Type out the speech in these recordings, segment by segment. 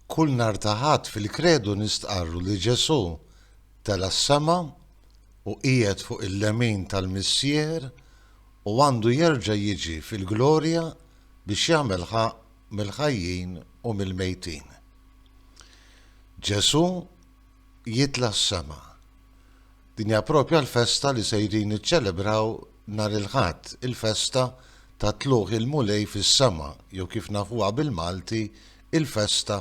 Kull nhar ta' Ħadd fil-Kredu nistqarru li Ġesù tela' s-sema u qiegħed fuq il-lemin tal-Missier u għandu jerġa' jiġi fil-glorja biex jagħmel ħaqq mill-ħajjin u mill-mejtin. Ġesù jitla' s-sema. Din hija proprja l-festa li sejrin niċċelebraw nhar il-Ħadd, il-festa ta' Tlugħ il-Mulej fis-sema jew kif nafuha bil-Malti, il-festa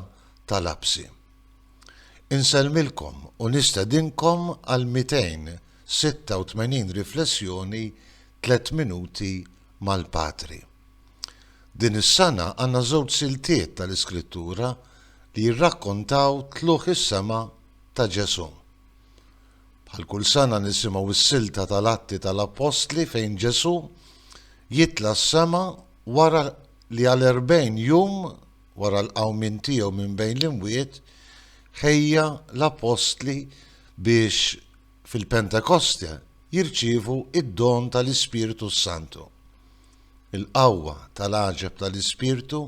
tal-Għabsi. Insellmilkom u nistedinkom għal 286 riflessjoni Tliet Minuti mal-Patri. Din is-sena għandna żewġ siltiet tal-Iskrittura li jirrakkontaw tlugħ is-sema ta' Ġesù. Bħal kull sena nisimgħu s-silta tal-Atti tal-Appostli fejn Ġesù jitla' s-sema wara li għal erbgħin jum wara l-qawmien tiegħu minn bejn l-imwiet ħejja l-Appostli biex fil-Pentekoste jirċievu d-don tal-Ispirtu s-Santu. il-qawwa tal-għaġeb tal-Ispirtu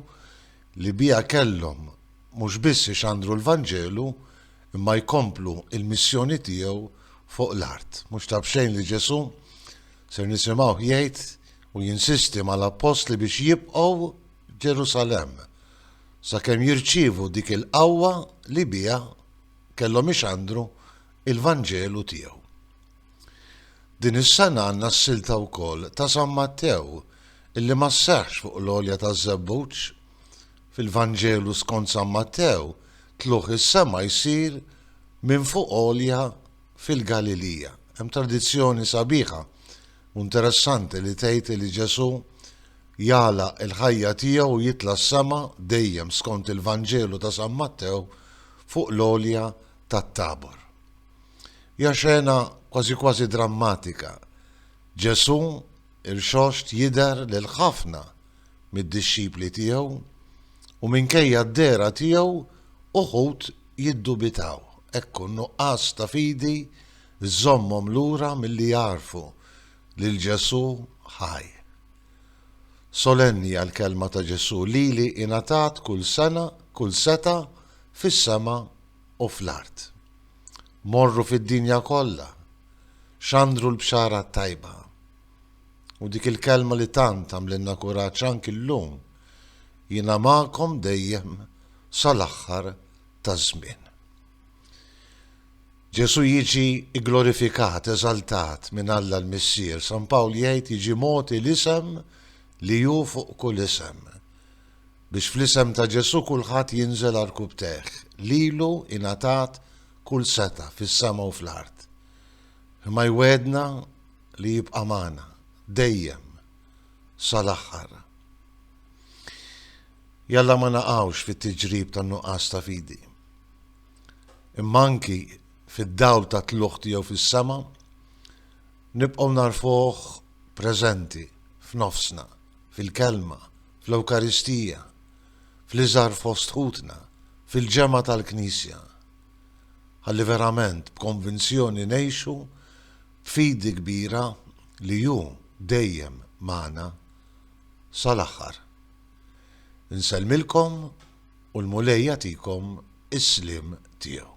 li biha kellhom mhux biss ixandru l-Vanġelu imma jkomplu l-missjoni tiegħu fuq l-art. Mhux ta' b'xejn li Ġesù, ser nisimgħuh jgħid u jinsisti mal-appostli biex jibqgħu Ġerusalemm sakemm jirċievu dik il-qawwa li biha kellhom ixandru l-Vanġelu tiegħu. Din is-sena għandna s-silta wkoll ta' San Mattew illi ma sseħħx fuq l-għolja taż-Żebbuġ. Fil-Vanġelu skont San Mattew tlugħ is-sema jsir minn fuq għolja fil-Galilija. Hemm tradizzjoni sabiħa u interessanti li tgħid li Ġesù jagħlaq il-ħajja tiegħu u jitla' s-sema dejjem skont il-Vanġelu ta' San Mattew fuq l-għolja tat-Tabor. Hija xena kważi kważi drammatika. Ġesù irxoxt jidher lil ħafna mid-dixxipli tiegħu u minkejja d-dehra tiegħu uħud jiddubitaw. Ekku n-nuqqas ta' fidi żżommhom lura milli jagħrfu lil Ġesù ħaj. Solenni hija l-kelma ta' Ġesù, Lili ingħatat kull sena, kull setgħa fis-sema u fl-art. Morru fid-dinja kollha, xandru l-Bxara t-Tajba. U dik il-kelma li tant għamlilna kuraġġ anki llum, Jiena magħkom dejjem sal-aħħar taż-żmien. Ġesù jiġi gglorifikat, eżaltat minn Alla l-Missier. San Pawl jgħid jiġi mogħti l-isem li hu fuq kull isem. biex fl-isem ta' Ġesù kulħadd jinżel għal rkubtejh, lilu ingħatat kull setgħa fis-sema u fl-art. Imma jwegħedna li jibqa' magħna, dejjem, sal-aħħar. Jalla ma naqgħux fit-tiġrib tan-nuqqas ta' fidi. Imma anki fid-dawl tat-tlugħ tiegħu fis-sema, nibqgħu narfuh preżenti f'nofsna, fil-kelma, fl-Ewkaristija, fl-iżgħar fost ħutna, fil-ġemgħa tal-Knisja, ħalli verament b'konvinzjoni ngħixu b'fidi kbira li Hu dejjem magħna sal-aħħar. Insellmilkom u l-Mulej jagħtikom is-sliem tiegħu.